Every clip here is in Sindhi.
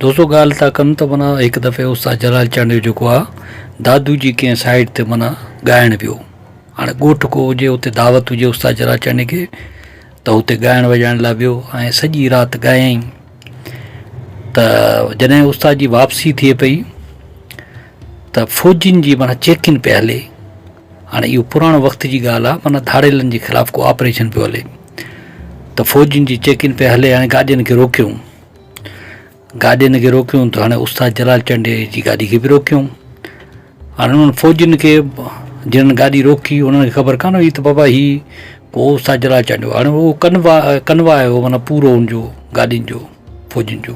دوستو ڳالهه ٿا ڪن ته منا هڪ دفعي استاد جلال چانڊيو جيڪو آ دادو جي ڪنهن سائيٽ تي منا ڳائڻ ويو هاڻي ڳوٺ ڪو هجي اتي دعوت هجي استاد جلال چانڊي کي ته هتي ڳائڻ وڄائڻ لاء ويو ۽ سڄي رات ڳايائين ته جڏهن استاد جي واپسي ٿئي پئي ته فوجين جي منا چيڪين پئي هلي هاڻي اهو پراڻو وقت جي ڳالهه آهي معنيٰ ڌاڙيلن جي خلاف ڪو آپريشن پيو هلي ته فوجين جي چيڪنگ پئي هلي هاڻي گاڏين کي روڪيون گاڏين کي روڪيون ته هاڻي استاد جلال چنڊي جي گاڏي کي به روڪيون هاڻي انهن فوجين کي جنهن گاڏي روڪي انهن کي خبر ڪانه هئي ته بابا هي ڪو استاد جلال چنڊ هو هاڻي هو ڪنوا ڪنوا آيو معنيٰ پورو ان جو گاڏين جو فوجين جو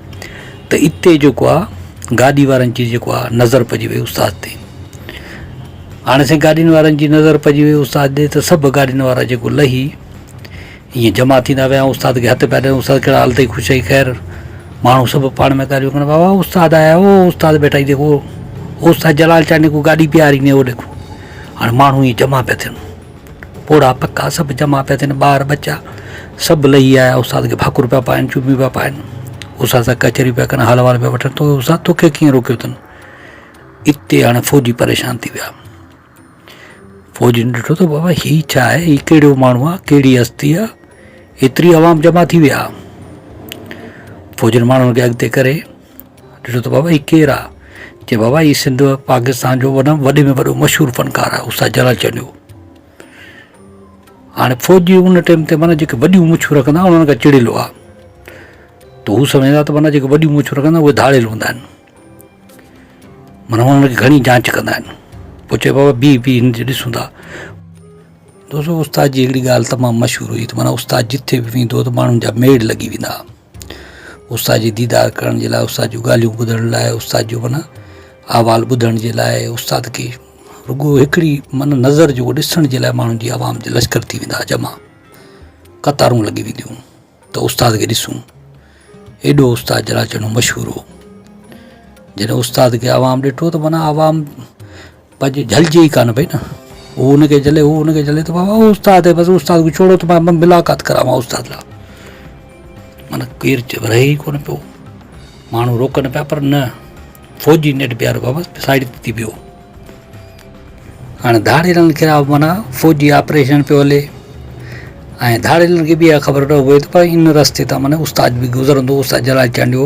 ته اتي جيڪو آ گاڏي وارن جي جيڪو آ نظر پئجي وئي استاد تي هاڻي سائين گاڏين وارن جي نظر پئجي وئي استاد ڏي ته سڀ گاڏين وارا جيڪو لهي ائين جمع ٿيندا ويا استاد کي هٿ پيا ڏين استاد ڪهڙا حال تئي خوش اٿئي خير ماڻهو سڀ پاڻ ۾ ڳالهيون ڪن بابا استاد آيا هو استاد بيٺا هي جيڪو استاد جلال چانڊيو ڪو گاڏي پياري نيو ڏيکو هاڻي ماڻهو ائين جمع پيا ٿين پوڙها پکا سڀ جمع پيا ٿين، ٻار ٻچا سڀ لهي آيا، استاد کي ڀاڪر پيا پائن، چوميون پيا پائن، استاد سان ڪچهريون پيا ڪن، حال احوال پيا وٺن ته استاد توکي ڪيئن روڪيو اٿن؟ اتي هاڻي فوجي پريشان ٿي ويا. فوجين ڏٺو ته بابا هي ڇا آهي، هي ڪهڙو ماڻهو آهي، ڪهڙي هستي آهي، ايتري عوام جمع ٿي وئي آهي. فوجين ماڻهن کي اڳتي ڪري. ڏٺو ته بابا هي ڪير آ؟ چي بابا هي سنڌ پاڪستان جو وڏو وڏي ۾ وڏو مشهور فنڪار آ استاد جلال چنيو هاڻي فوجي ان ٽيم تي معنيٰ جيڪي وڏيون مڇون رکندا هئا انهن کان چڙيل هئا ته هو سمجهندا ته معنيٰ جيڪي وڏيون مڇون رکندا اهي ڌاڙيل هوندا آهن معنيٰ انهن جي گهڻي جانچ ڪندا آهن پوء چئي بابا بيهه بيهه هن جي ڏسون ٿا دوستو استاد جي هڪڙي ڳالهه تمام مشهور هئي ته معنيٰ استاد جتي به ويندو هو ته ماڻهن جا ميڙ لڳي ويندا هئا استاد جي ديدار ڪرڻ جي لاء استاد جون ڳالهيون ٻڌڻ لاء استاد جو معنيٰ احوال ٻڌڻ جي لاء استاد کي رڳو هڪڙي من نظر جو ڏسڻ جي لاء ماڻهن جي عوام جي لشڪر ٿي ويندا هئا جمع قطارون لڳي وينديون هيون ته استاد کي ڏسون ايڏو استاد جلاچيڻو مشهور هو جڏهن استاد کي عوام ڏٺو ته معنيٰ عوام پڄ جهلجي ئي ڪانه پئي نه، هو ان کي جهلي، هو ان کي جهلي ته بابا اهو استاد هي، بس استاد کي ڇوڙو ته مان ملاقات ڪراوان استاد سان. معنيٰ ڪير چپ رهي ئي ڪونه پيو. ماڻهو روڪن پيا پر نه، فوجي نيٺ بيهاريو بابا سائيڊ تي ٿي بيهو. هاڻي ڌاڙيلن خلاف معنيٰ فوجي آپريشن پيو هلي ۽ ڌاڙيلن کي به اها خبر نه هئي ته ان رستي تان معنيٰ استاد به گذرندو، استاد جلال چانڊيو.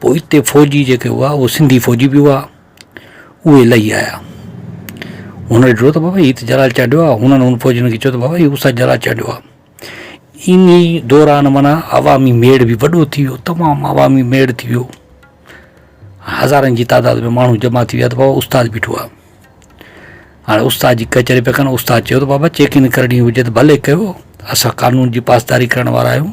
پوء اتي فوجي جيڪي هئا اهي سنڌي فوجي به هئا اهي لهي آيا هن ڏٺو ته بابا هي ته جلال چاڍيو آهي هنن هن فوجين کي چيو ته بابا هي استاد جلال چاڍيو آهي ان ئي دوران مانا عوامي ميڙ به وڏو ٿي ويو تمام عوامي ميڙ ٿي ويو هزارن جي تعداد ۾ ماڻهو جمع ٿي ويا ته بابا استاد بيٺو آهي هاڻي استاد جي ڪچهري پيا ڪن استاد چيو ته بابا چيڪنگ ڪرڻي هجي ته ڀلي ڪيو اسان قانون جي پاسداري ڪرڻ وارا آهيون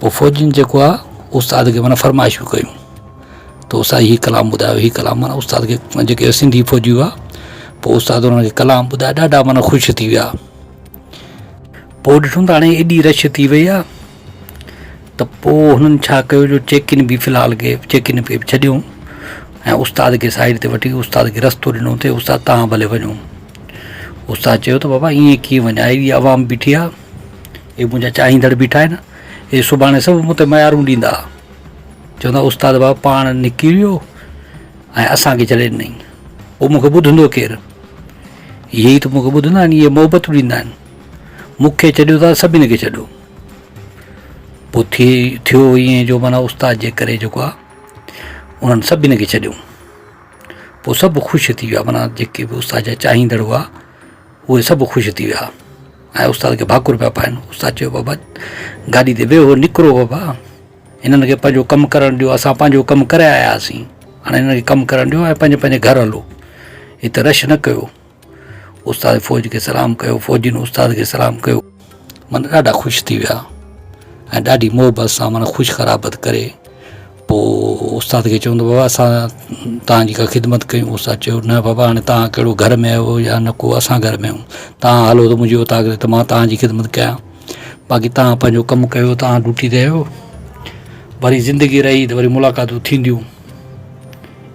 پوء فوجين جيڪو آ استاد کي معنيٰ فرمائشون ڪيون ته استاد هي ڪلام ٻڌايو هي ڪلام معنيٰ استاد کي جيڪي سنڌي فوجي هئا پوء استاد انهن کي ڪلام ٻڌايا ڏاڍا معنيٰ خوش ٿي ويا پوء ڏٺم ته هاڻي ايڏي رش ٿي وئي آ ته پوء هنن ڇا ڪيو جو چيڪين به في الحال کي چيڪين کي به ڇڏيو ۽ استاد کي سائيڊ تي وٺي استاد کي رستو ڏنو ته استاد تهان ڀلي وڃو استاد چيو ته بابا ائين ڪيئن وڃان هيڏي عوام بيٺي آ اهي منهنجا چاهيندڙ بيٺا آهن، اهي سڀاڻي سڀ مون تي ميارون ڏيندا. چوندا استاد بابا پاڻ نڪريو ۽ اسان کي جهلين نئين. پوء مون کي ٻڌندو ڪير؟ اهي ئي ته مون کي ٻڌندا آهن، اهي محبتون ڏيندا آهن. مون کي ڇڏيو ته سڀني کي ڇڏيو. پوء ٿئي ٿيو ائين جو معنيٰ استاد جي ڪري جيڪو آهي انهن سڀني کي ڇڏيو. پوء سڀ خوش ٿي ويا معنيٰ جيڪي به استاد جا چاهيندڙ هئا اهي سڀ خوش ٿي ويا. ۽ استاد کي ڀاڪر پيا پائن. استاد چيو بابا گاڏي تي ويهو نڪرو بابا هنن کي پنهنجو ڪم ڪرڻ ڏيو اسان پنهنجو ڪم ڪري آيا هئاسين هاڻي هنن کي ڪم ڪرڻ ڏيو ۽ پنهنجي پنهنجي گهر هلو هت رش نه ڪيو استاد فوج کي سلام ڪيو فوجين استاد کي سلام ڪيو من ڏاڍا خوش ٿي ويا ۽ ڏاڍي محبت سان من خوش خرابت ڪري پوء استاد کي چوندو بابا اسان توهان جي ڪا خدمت ڪيون استاد چيو نه بابا هاڻي توهان ڪهڙو گهر ۾ آهيو يا نه ڪو اسان گهر ۾ آهيون توهان هلو ته منهنجي اوطاق ۾ ته مان توهان جي خدمت ڪيان باقي توهان پنهنجو ڪم ڪيو توهان ڊيوٽي تي آهيو وري زندگي رهي ته وري ملاقاتون ٿينديون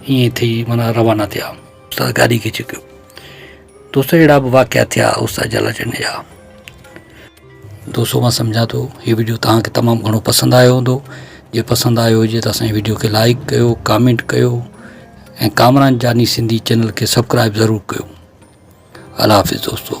ائين ٿي مانا روانا ٿيا استاد گاڏي کي ڇڪيو دوست اهڙا به واقعا ٿيا استاد جالاچنڊيا دوستو مان سمجهان ٿو هي وڊيو توهان کي تمام گهڻو پسند آيو هوندو جي پسند آيو هجي ته اسان جي وڊيو کي لائڪ ڪيو ڪامينٽ ڪيو ۽ ڪامران جاني سنڌي چينل کي سبڪرائب ضرور ڪيو الله حافظ دوستو